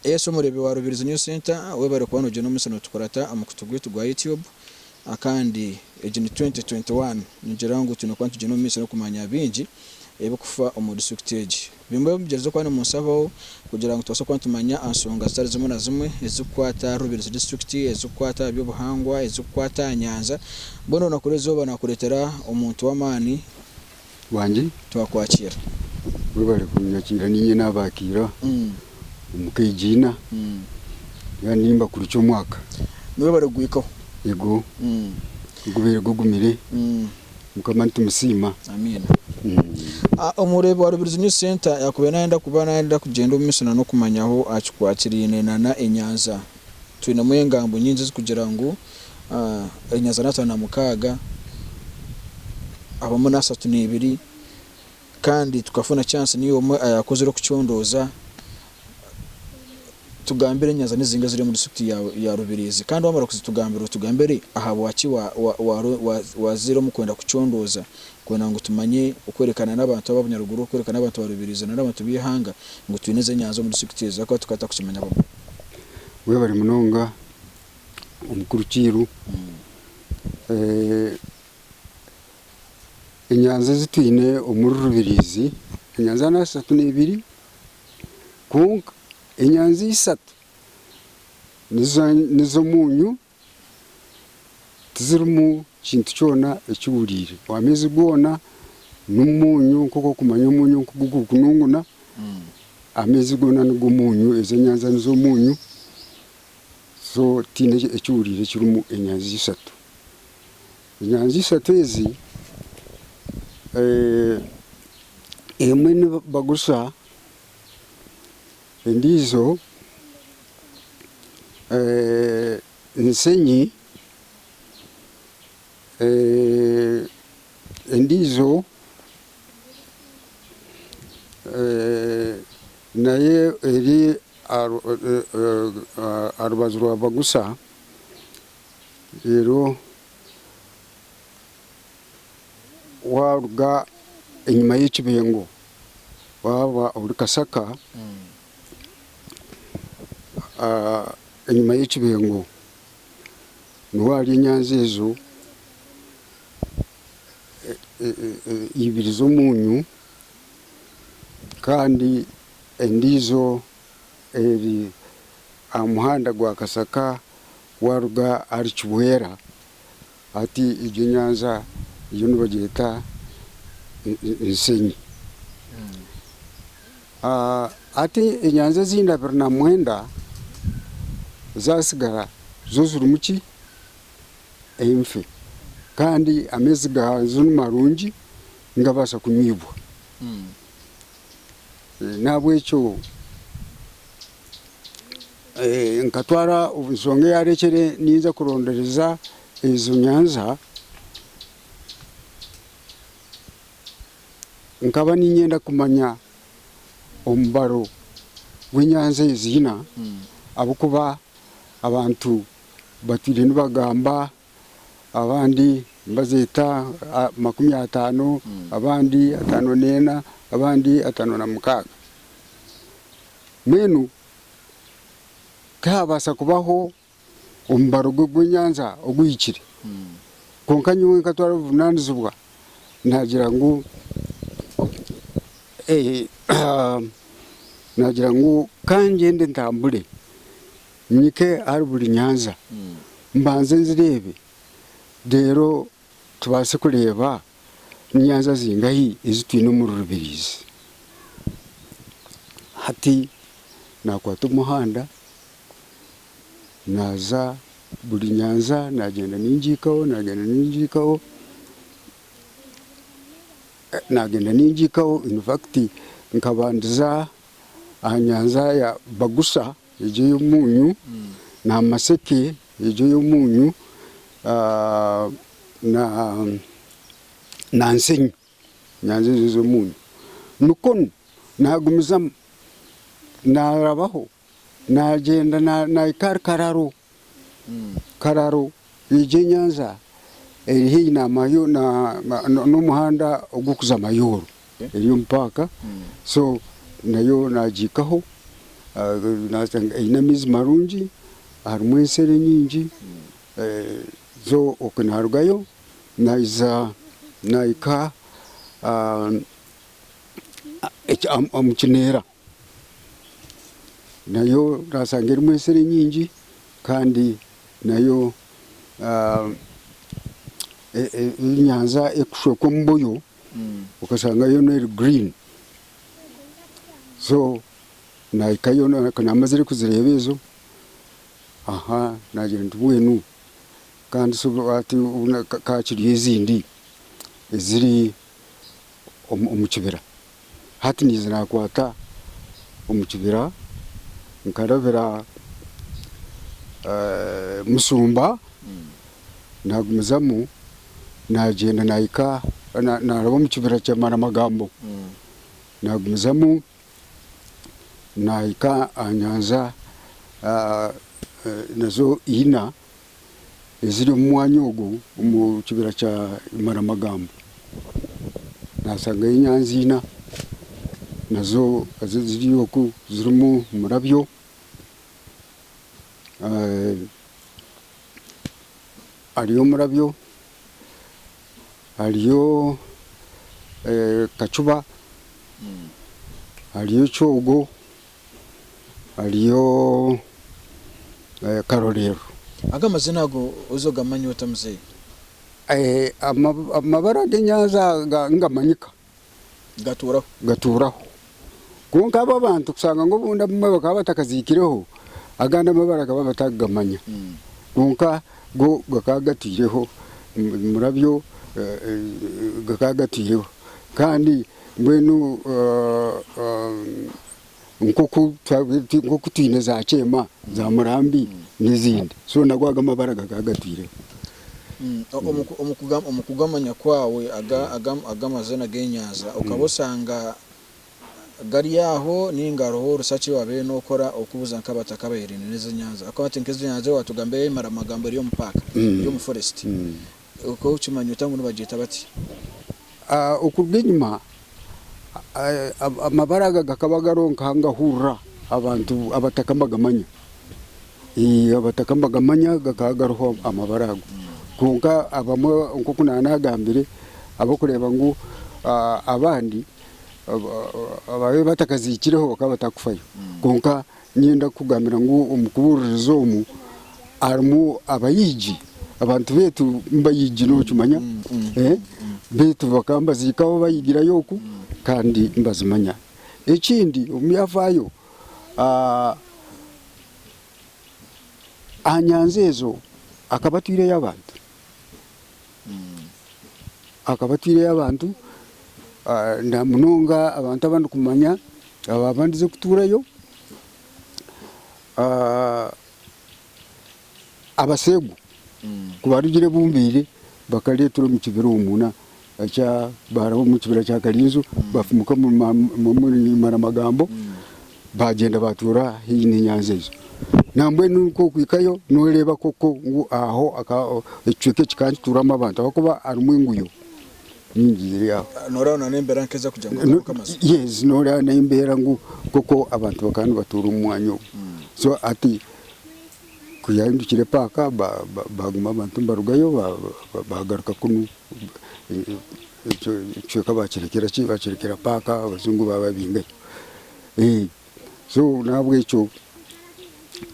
Yesu omureebi wa Rubirizi News Centre webare kuba nogyenda omutsyo notukurata omukutu gwaitu gwa YouTube Kandi egi ni twenty twenty one ningira ngu twine kuba nitugyenda omumaisyo nokumanya bingi ebikufa omu district egi bimwe omugyerize kuba nimunsabao kugira ngu tubaase kuba nitumanya ansonga zitari zimwe na zimwe ezikukwata ahari Rubirizi district ezikukwata aha byobuhangwa ezikukwata aha nyanja mbwenu onakureeba eizooba nakureetera omuntu wamaani bwangye twakwakira webare kunyakira ninye nabakira omu kegina Kandi nimbakurukya omwaka Webare kuguhikaho yego gubere gugumire mukama nitumusiima Amiina Omureebi wa Rubirizi News Centre yakubaire nayenda kuba nayenda kugyenda omumiso nanokumanyaho aha kikwakiraine nana enyanza. Twinemu engambo nyingi ezikugira ngu enyaza n'ataano na mukaaga, abamu n'ashatu n'eibiri kandi tukafuna chance niiwe omwe ayakozire okucondooza tugambire enyaza nizinga eziri omu district ya ya Rubirizi kandi wamara kuzitugambira otugambire ahabwaki wazaire omu kwenda kucondooza kwenda ngu tumanye okwerekana n'abantu aba Bunyaruguru okwerekana n'abantu ba Rubirizi nari abantu b'eihanga ngu twine ezi enyaza omu district ezi ahakuba tukaba tutakukimanya. Webare munonga omukuru kiiru. Enyanja ezi twine omuri Rubirizi, enyanja nashi ashatu nebiri kwonka enyanja ishatu nizo omunyu. tizirimu kintu kyona ekihuriire. Amaizi goona n'omuunyu nk'oku orikumanya omuunyu nk'oku gurikununguna, amaizi goona nigo muunyu, ezi enyanja nizo muunyu. So tihaine ekihuriire kirimu enyanja ishatu. Enyanja ishatu ezi, emwe nibagurisa Endiijo nshenyi, endiijo nayo eri aha rubaju rwa bagusa. waruga enyima y'ekibingo waba ori kasaka enyima y'ekibingo niho hari enyanzi ezo ibiri z'omunyu kandi endijo eri aha muhanda gwa kasaka waruga ahari kibwera Hati egyo enyanja yo nibagyeta Nshenyi. Hati enyanja ezindi abiri na mwenda ezatsigara zo zirimu ki? Enfe. Kandi amaizi gaazo ni marungi nigabaasa kunywibwa. N'ahabw'ekyo nkatwara obu nshonga eyarekyere ninza kurondereza ezo nyanja nkaba niinyenda kumanya omubaro gw'enyanja ezi ina ahabw'okuba abantu batwire nibagamba abandi nibazeeta makumi ataano abandi ataano neena abandi ataano na mukaaga. Mbwenu tihaabaasa kubaho omubaro gw'ebwenyanja oguhikire, kwonka nyowe nkatwara obuvunaanizibwa naagira ngu naagira ngu kangyende ntambure nyike ahari buri nyanja mbanze nzireebe reero Tubaase kureeba nyanja zingahi ezi twine omu rurubirizi. Hati naakwata omuhanda naaza buri nyanja naagyenda ningiikaho, naagyenda ningiikaho, naagyenda ningiikaho infacti nkabandiza aha nyanja ya Bagusa egyo ey'omunyu, Namaseke Egyo ey'omuunyu na nsenyi, nyanza ezo ez'omuunyu. Nikwo nu naagumizamu naarabaho naagyenda naahika ahari Kararo. Kararo egyo enyanza eri haihi n'omuhanda ogurikuza Mayooro. Eri omu paaka so nayo nagihikaho eine amaizi marungi harimu ensero enyingi so okwe narugayo naiza nahika omu kineera nayo nasanga erimu ensero enyingi kandi nayo enyanja erikushwekwa omubuyo. okashanga yoona eri gurini so nahikayo kunamazire kuzireeba ezo nagira nti mbwenu kandi so hati ka kiri ezindi eziri omu kibira. Hati niija nakwata omu kibira nkarabira musumba nagumizamu nagyenda nahika naraba omu kibira kya maramagambo nagumizamu nahika aha nyanja nazo ina eziri omu mwanya ogwo omu kibira kya Imaramagambo, nasangayo enyanzi ina nazo ziri oku zirimu omurabyo hariyo omurabyo, hariyo kacuba, hariyo ekyogo. hariyo karorero. Ago amazina ago oza ogamanya ota muzeyi? Amabara g'enyanza nigamanyika gatuuraho kwonka abo abantu kushanga ngu obundi abamwe bakaba batakaziikireho agandi amabara bakaba batakugamanya kwonka go gakaba gatwiireho omurabyo gakaba gatwiireho kandi Mbwenu nk'oku twine za kyema, za murambi n'ezindi, so nago ago amabara gakaba gatwireho. Omu kugamanya kwawe aga amazina g'enyanja okaba oshanga gari aho ninga hariho orusace wabaire nokora okubuza nk'abataka abahererine n'ezi enyanja? Ahabw'okuba hati nk'ezi enyanja watugambira eyi Maramagambo eri omu paaka, eri omu foresiti. Okimanya ota ngu nibagyeta bati? A Okuruga enyima, amabara aga gakaba gariho nk'ahangahurira abantu abataka nibagamanya. Eeh abataka nibagamanya gakaba gariho amabara ago. Kwonka abamwe nk'oku naaba naagambire, ab'okureeba ngu abandi abaabaire batakaziikireho bakaba batakufayo. Kwonka Niinyenda kukugambira ngu omu kubuuririza omu harimu abaigi, abantu baitu nibaigi nookimanya, baitu bakaba nibaziikaho baigirayo oku kandi nibazimanya. Ekindi omu byafaayo, aha nyanja ezo akaba atwireyo abantu. akaba atwireyo abantu namunonga abantu abandi kumanya ababandize kuturayo abasegu kubarugire bumbaire bakaretera omukibira omwo baraho omukibira kya karinzo bafumuka omuri maramagambo Baagyenda baatuura haihi n'enyanja egyo. Nambwenu nk'oku ohikayo nooreeba koko ngu aho ekicweka eki ka nikituuramu abantu ahabw'okuba harimu enguyo nyingi ziri aho. Nooreeba n'embeera nk'ezi okugira ngu ogaruke amazima. Yes, nooreeba n'embeera ngu koko abantu bakaba nibatuura omu mwanya ogu. So hati ku yaahindukire paaka baaguma abantu nibarugayo baagaruka kunu. Ekyo ekicweka baakirekera ki? Baakirekera paaka abajungu baababingayo. So n'ahabw'ekyo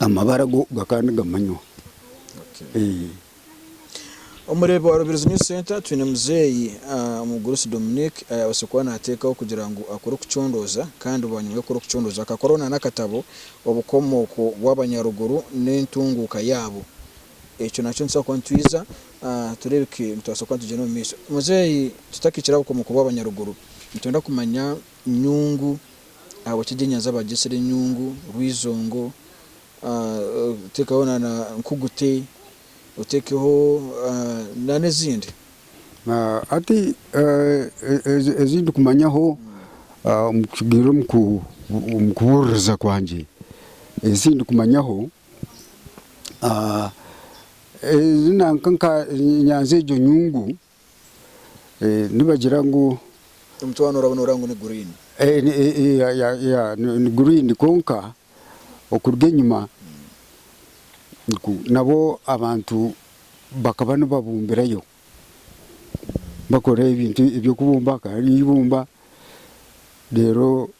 amabara go gakaba nigamanywa. Omu reeba wa Rubirizi News Centre twine muzeeyi Mugurusi Dominique ayaabaasire kuba naateekaho kugira ngu akore okucondooza kandi bwanyima y'okukora okucondooza akakoraho n'akatabo Obukomooko bw'Abanyaruguru n'entunguuka yaabo Ekyo nakyo nitubaasa kuba nitwiza tureebeke nitubaasa kuba nitugyenda omu maisho. Muzeeyi tutakikire aha bukomo kuba abanyaruguru, nitwenda kumanya nyungu ahabwaki ebyenyanja baagyetsire enyungu, Rwiizongo, otekeho na na Nkugute, otekeho na n'ezindi. Hati ezi ndikumanyaho omu kubuuririza kwangye, ezi ndikumanyaho, Nyanza egyo nyungu nibagira ngu niguriini kwonka okuruga enyima nabwo abantu bakaba nibabumbirayo bakora ebintu eby'okubumba hariyo eibumba reero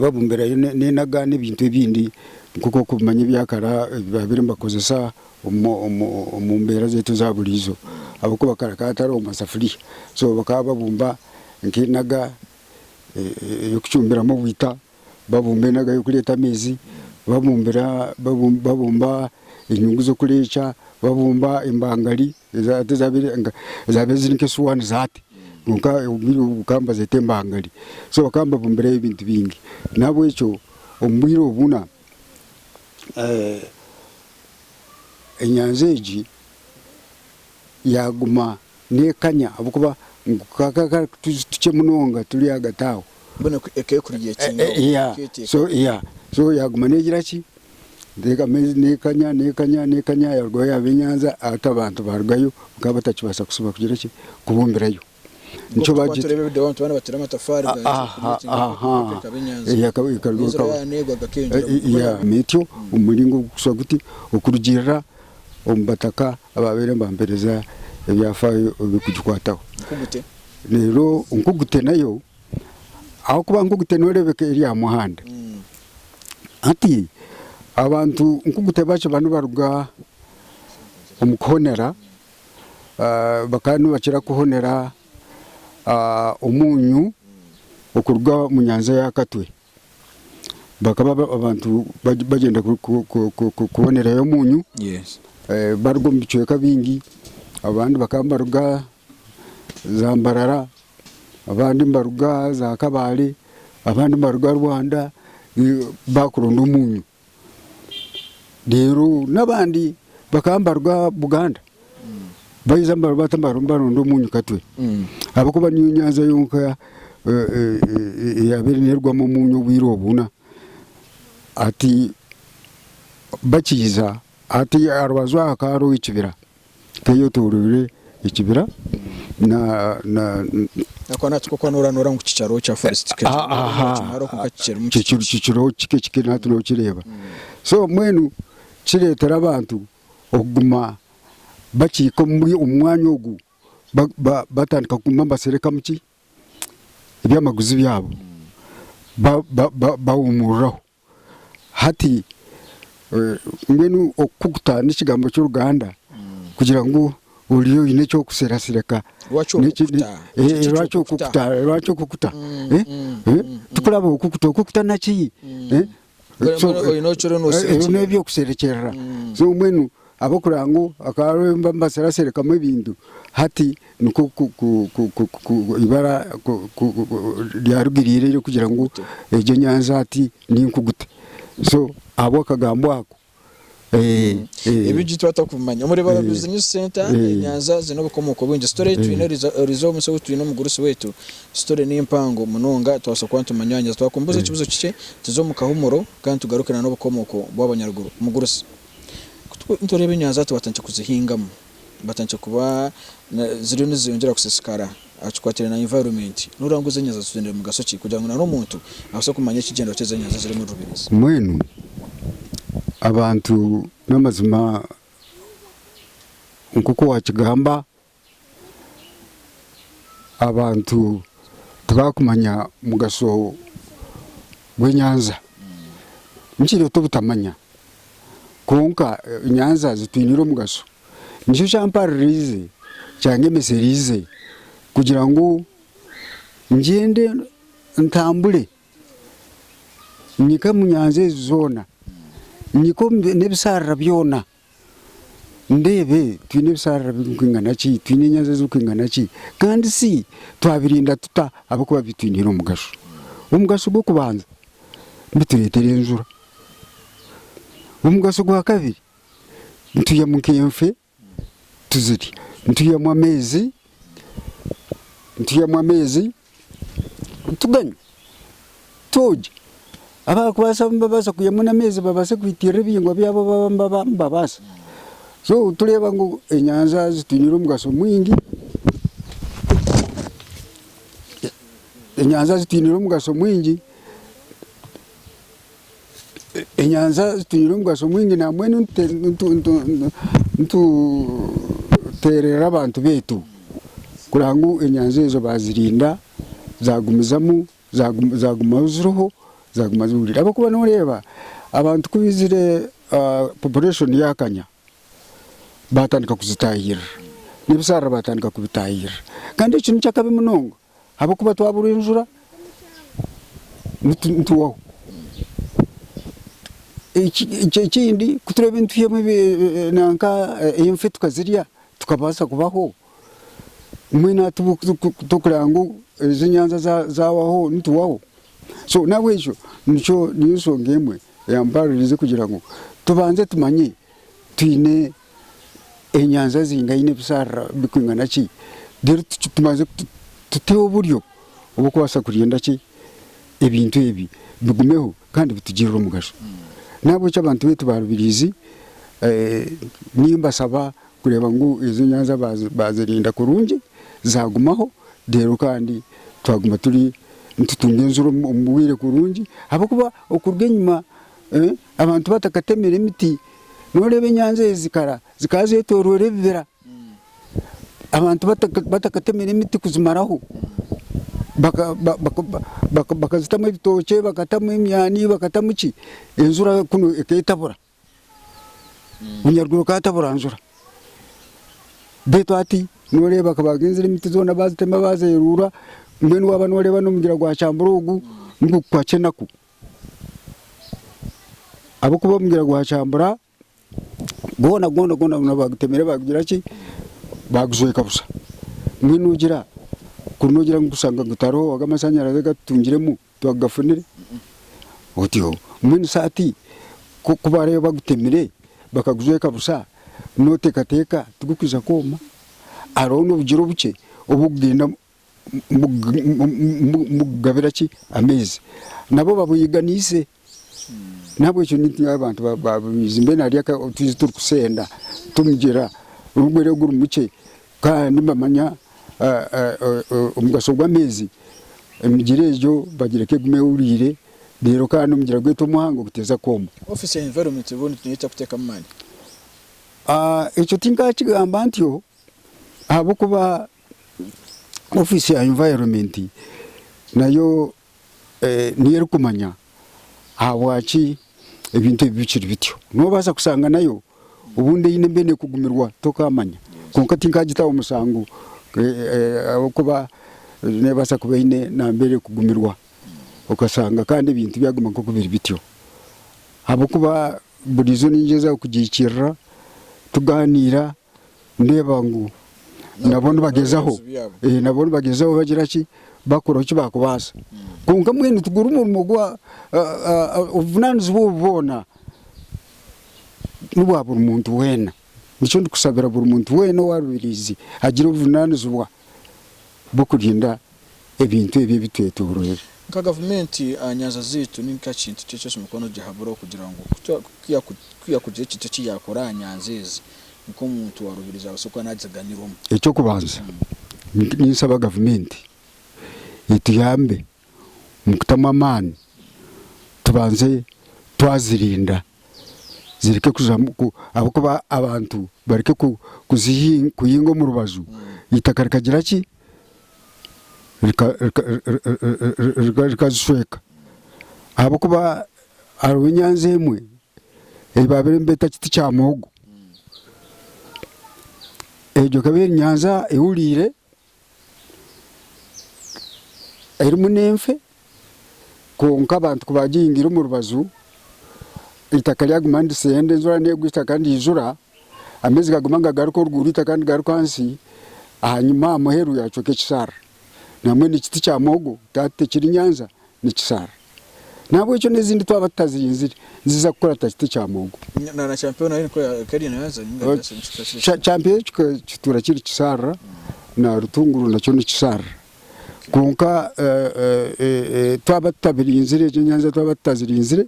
babumbirayo n'enaga n'ebintu ebindi nk'oku orikumanya ebyakare ebi baabaire nibakozesa omu mbeera zaitu eza buriijo ahabw'okuba kare hakaba hatariho masafuriya. So bakaba babumba nk'enaga ey'okucumbiramu obwita, babumba enaga y'okureeta amaizi, babumba enyungu z'okureekya, babumba embangari. Ezi hati zaabaire ziri nk'esuwaani za hati, kwonka obwire obu bakaba nibazeeta embangari. So bakaba nibabumbirayo ebintu bingi. Nahabwekyo omu bwire obu buna enyanja egi yaaguma n'ekanya ahabw'okuba kakaba kari otuju tukye munonga turi ahagati aho. Mbwenu ekaba ekuriire ekyeeyo. Yaa, so yaa, so yaaguma neegira ki? Ndeeka amaizi nekanya nekanya nekanya yarugayo yaba enyanza hati abantu barugayo bakaba batakibaasa kusiba kugira ki kubumbirayo nikyo bagita Turebe video abantu bana batera amatafari ga aha aha Eh, aka- ikarugayo Enzira ikaba- yaneegwa gakeyongyera Eh, eh, yeah. N'ekyo omu muringo gukushusha guti okurugiirira omu bataka abaabaire nibampereza ebyafaayo ebirikugikwataho Nkugute. reero nkugute nayo ahabw'okuba nk'oku te nooreebeka eri aha muhanda. Hati abantu nk'oku te bakiba nibaruga omu kuhonera, bakaba nibakira kuhonera omuunyu okuruga omu nyanja ya Katwe. Bakaba abantu bagyenda kuhonerayo omuunyu baruga omu bicweka bingi, abandi bakaba nibaruga za Mbarara, abandi nibaruga za Kabale, abandi nibaruga Rwanda bakuronda omunyo. Rero nabandi bakaba nibaruga Buganda baiza nibata nibaronda omunyo Katwe ahabw'okuba niyo nyanja yonka eyabire nerwamu omunyo obwire obu na hati bakiija hati aharubaju aha hakaba hariho ekibira. Teyetooroire ekibira na. Ako naki kokuba noranura ngu kikyariho kya forest kikye kimaraho kwonka kikirimu kikye kikiriho kikye kikye nahati nokireeba so mbwenu kiretera abantu okuguma bakiika omuri omu mwanya ogu batandika kuguma nibaserekamu ki ebyamaguzi byabo bawumururaho. Hati mbwenu okukuta n'ekigambo ky'oruganda kugira ngu oriyo oine eky'okuserasireka. Lwaki okukuta? Eh, Ekyo lwaki ky'okukuta. okukuta? Lwaki okukuta? Eh, eh, Tukuraba okukuta, okukuta naki? Eh, Mbwenu- so- mbwenu oine eki oriyo eh, eh, noserukira. n'eby'okuserekyerera. So mbwenu Ahabw'okurora ngu akaba ari owu mbatsire asherekamu ebintu, hati nikwo eibara ryarugiriire ery'okugira ngu egyo enyanja hati ninkugute. So ahabw'akagambo ako. Ebi itwe twatuba kubimanya. Omuri Barabi Business Centre, enyanja ziine obukomooko bwingi. Sitori ei twine erize omu musyo ogu twine omugurusi waitu, sitori ni mpango munonga nitubaasa kuba nitumanyanyisa. Twakubuuza ekibuuzo kikye, tuze omu kahumuro kandi tugaruke n'obukomooko bw'abanyaruguru. Mugurusi. Nitureeba enyanja hati batandikire kuzihingamu, batandikire kuba ziriyo nizeyongyera kusisikara aha kikwatiraine na environment. Nooreeba ngu ezi enyanja zitugyendeire mugasho ki kugira ngu n'omuntu abaase kumanya ekigyendwa ky'ezi enyanja eziri omu rubeenzi. Mbwenu abantu n'amazima nk'oku waakigamba abantu tibakumanya mugasho gwenyanja nikireta obutamanya kwonka enyanja zitwinire omugasho nikyo kyamparirize kyandemesereize kugira ngu ngyende ntambure nyike omu nyanja ezi zoona nyike nebisharara byona. Ndeebe, twine ebisharara birikwingana ki? Twine enyanja ezirikwingana ki? Kandi shi twabirinda tuta ahabw'okuba bitwiniire omugasho? Omugasho gw'okubanza, bitureetera enjura. Omugasho gwa kabiri, nitwihamu nk'enfe tuzirye. Nitwihamu amaizi, nitwihamu amaizi. Tugane, twogye. Abarikubaasa nibabaasa kwihamu n'amaizi babaase kwitirira ebihingwa byabo abu baba nibaba nibabaasa. So tureeba ngu enyanja zitwinire omugasho mwingi, enyanja zitwinire omugasho mwingi. Enyanja zitwire omugasho mwingi na mbwenu nitutererera abantu beitu kureba ngu enyanja ezo bazirinda zagumizamu zagumaho ziriho zaguma zihwire ahabw'okuba noreeba abantu ku baizire population yakanya batandika kuzitahirira n'ebisharara batandika kubitahirira kandi ekyo niky'akabi munonga. ahabw'okuba twabura enjura nitugwaho. Ekindi ku turaabe nitwihamu nanka enfe tukazirya tukabaasa kubaho, mbwenu hati tworikureeba ngu ezo enyanja zaahwaho nitugwaho? So n'ahabw'ekyo nikyo, niyo nshonga emwe eyampaaruriize kugira ngu tubanze tumanye twine enyanja zingaine ebisharara bikwingana ki then tubanze tuteho oburyo obwokubaasa kurinda ki ebintu ebi bigumeho kandi bitugirire omugasho. Nahabwekyo abantu beitu ba Rubirizi nimbashaba kureeba ngu ezo enyanja bazirinda kurungi zagumaho reero kandi twaguma nitutunga enziro omu bwire burungi ahabwokuba okuruga enyima Abantu batakatemire emiti, noreeba enyanja ezi zikara zikaba zetorire ebibira, abantu batakatemire emiti kuzimaraho, bakazitamu ebitookye, bakatamu emyani, bakatamu ki, enjura kunu eketabura, omunyaruguru akatabura njura, beitu hati noreeba akaba agenzire emiti zona bazitema bazerura, mbwenu waba noreeba nomugyera gwa kyambura ogu nigukukwatsya enaku. ahabw'okuba omugyera gwa kyambura gwona gwona gwona baagutemire baagugira ki baagujweka busha. Mbwenu ogira kuri noogira ngu kushanga ngu tihariho owaga amashanyarazi agu atutungiremu twakugafunire? Otyo. Mbwenu shi hati ku ku baaraabe bagutemire bakagujweka busha nooteekateeka tigukwija kwoma? Hariho n'obugyera obukye obugenda mugabira ki amaizi nabo babuyiganiise nahabwekyo nitwe abantu bamaizi mbwenu hariyo otuzi turikusenda tumugyera guri gukye kandi nibamanya omugasho gwamaizi emigyera egyo bagireke egume ehuriire reero kandi omugyera gwaitu omuhango guteeze kwooma. Ekyo tinkakigamba ntyo ahabwokuba Ofiisi ya Environment nayo niyo erikumanya ahabwaki ebintu ebi bikiri bityo. Noobaasa kushanga nayo obundi eine embeera erikugumirwa tokaamanya. Kwonka tinkagitaho mushango ahabw'okuba neebaasa kuba eine nambeera erikugumirwa okashanga kandi ebintu byaguma nk'oku biri bityo. Ahabw'okuba buriijo ningyeza kugihikiirira tugaaniira. Nindeeba ngu nabo nibagyezaho, nabo nibagyezaho bagira ki, bakora oku bakubaasa. Kwonka mbwenu tiguri murimo gwa, obuvunanizibwa obu bwona nibwa buri muntu wena. Nikyo ndikusabira buri muntu wena owarubirizi agire obuvunanizibwa bwokurinda ebintu ebi ebitwetooroire. Nka gavumenti, aha nyanja zaitu ni nkaaki kintu ki eki oshemeriire kuba noogihaburaho kugira ngu ku yaakugira ekintu eki yaakora aha nyanja ezi nk'omuntu wa rubirizi abaase kuba naagiganirwamu? Eky'okubanza, ninsaba gavumenti etuyambe omu kutamu amaani tubanze twazirinda zireke kujwamu ahabw'okuba abantu bareke kuhinga omu rubaju, eitaka rikagira ki? rikazishweka ahabw'okuba hariho enyanza emwe ei baabaire nibeeta ekiti kya muhogo, egyo ekaba eri nyanza ehuriire erimu n'enfe. kwonka abantu kubagihingire omu rubaju, eitaka ryaguma niritsenda enjura negwa eitaka nirijura, amaizi gaguma nigagaruka oruguuru eitaka nirigaruka ahansi, ahanyima aha muheru yacweka ekisharara. Nambwenu ekiti kya muhogo tihati tekiri Nyanza nikisharara. Nahabwekyo n'ezindi twaba tutazihingire niziza kukura ta kiti kya muhogo. Kya kyampeo kituura kiri kisharara na rutunguru nakyo nikisharara. Kwonka twaba tutabirinzire, egyo enyanja twaba tutazirinzire,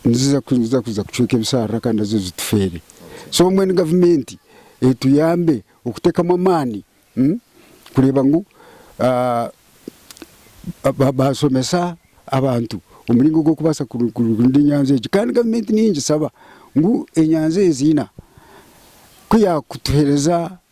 niziza niziza kuza kucweka ebisharara kandi nazo zitufeere. So mbwenu gavumenti etuyambe okutekamu amaani mm, kureba ngu ah, ba- basomesa abantu omuringo gw'okubasa kuru- kuru- kurinda enyanja egi. Kandi gavumenti niyo ningisaba ngu enyanja ezi ina ku yakutuhereza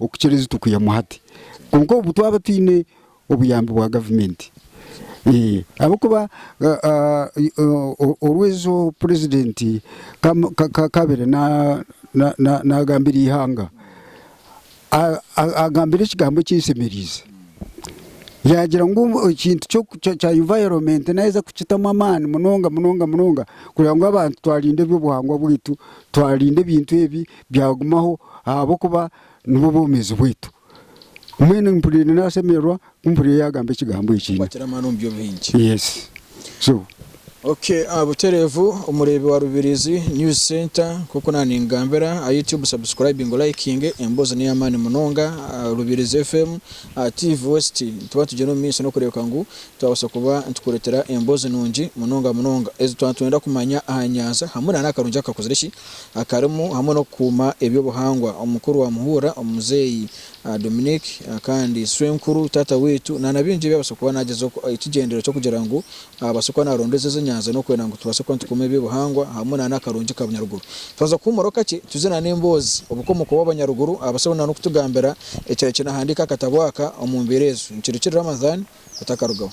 Okukira ezi tukwihamu hati kwonka obu twaba twine obuyambi bwa gavumenti ahabw'okuba oru ezo purezidenti kaabaire naagambira eihanga, agambire ekigambo ekinsemereize, yaagira ngu ekintu kya invayoronmenti naaheza kukitamu amaani munonga munonga munonga kugira ngu abantu twarinde eby'obuhangwa bwaitu, twarinde ebintu ebi. Byagumaho ahabw'okuba nibwo bwomeezi bwaitu. Mbwenu mpuriire nasemererwa ku mpuriire yagamba ekigambo eki. Kwatira amaani omu byo bingi. Yes so. Ok buterevu omureebi wa Rubirizi news center nkoku naningambira aha YouTube subscribing liking emboozi neyamaani munonga Rubirizi FM TV west nituba tugyenda omu maiso nokureebeka ngu twabaasa kuba nitukuretera emboozi nungi munonga munonga ezi twaba nitwenda kumanya aha nyanja hamwe nana akarungi akakuzire ki akarimu hamwe n'okukuuma eby'obuhangwa. Omukuru wa Muhura, Omuzeeyi Dominique kandi Sswenkuru, Taata waitu, naana bingi ebi abaasa kuba naagyezaho ekigyendero ky'okugira ngu abaase kuba naarondoza ezi enyanja n'okwenda ngu tubaase kuba nitukuuma eby'obuhangwa hamwe naana akarungi ka bunyaruguru. Twaza kuhuumuraho kakye tuze naana emboozi obukomooko bw'abanyaruguru abaase naana kutugambira ekirahikye naahandiika akatabo aka omu mbeera ezo. Nikirukirira Ramadhan otakarugaho.